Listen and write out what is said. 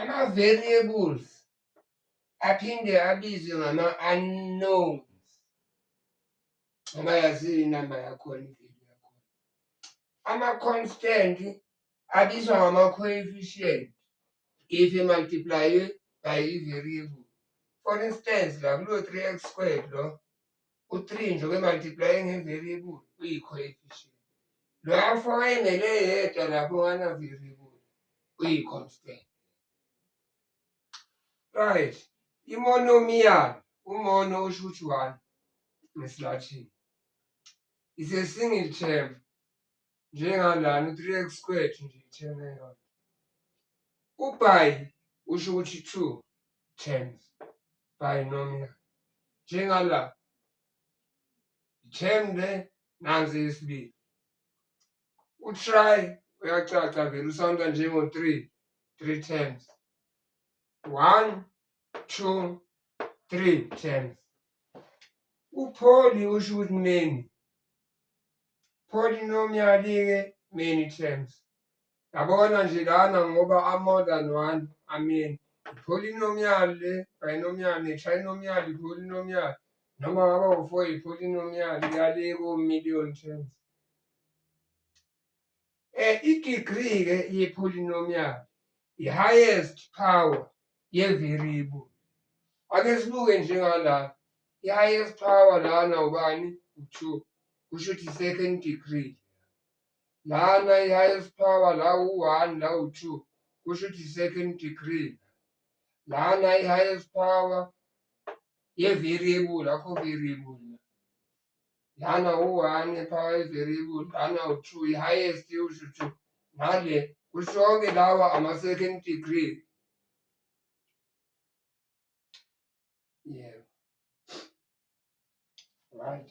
ama-variables aphinde abizwe ngama-unknowns ngoba yaziyo inamba yakhona ivelu yakhona ama-constant abizwa ngama-coefficient if imultiplye by i-variable for instance la kulo-three x squared lo u-three nje kwemultiplye nge-variable uyi-coefficient lo afo wayengele yedwa lapho ngana-variable uyi-constant right imonomial umono usho ukuthi one ngesilathini is a single term njengalana u-3x squared nje ithena yona uby usho ukuthi two terms binomial njengala i-term le nansi yesibili utry uyacaca vele usawunda njengo-three three terms One, two, three times. Upholi usho ukuthi many. Polynomial-ke many times. Yabona nje lana ngoba a-more than one ameni. Polynomial le, binomial ne-trinomial i-polynomial noma ngaba u-four i-polynomial yale ko-million terms. Eh, I-degree-ke ye-polynomial i-highest power ye-variable. Ake sibuke njengala i-highest power lana ubani u-two kusho ukuthi i-second degree lana i-highest power la u-one la u-two kusho ukuthi i-second degree lana i-highest power ye-variable akho variable lana u-one power i-variable lana u-two i-highest usho ukuthi ngale kushonke lawa ama-second degree yebo right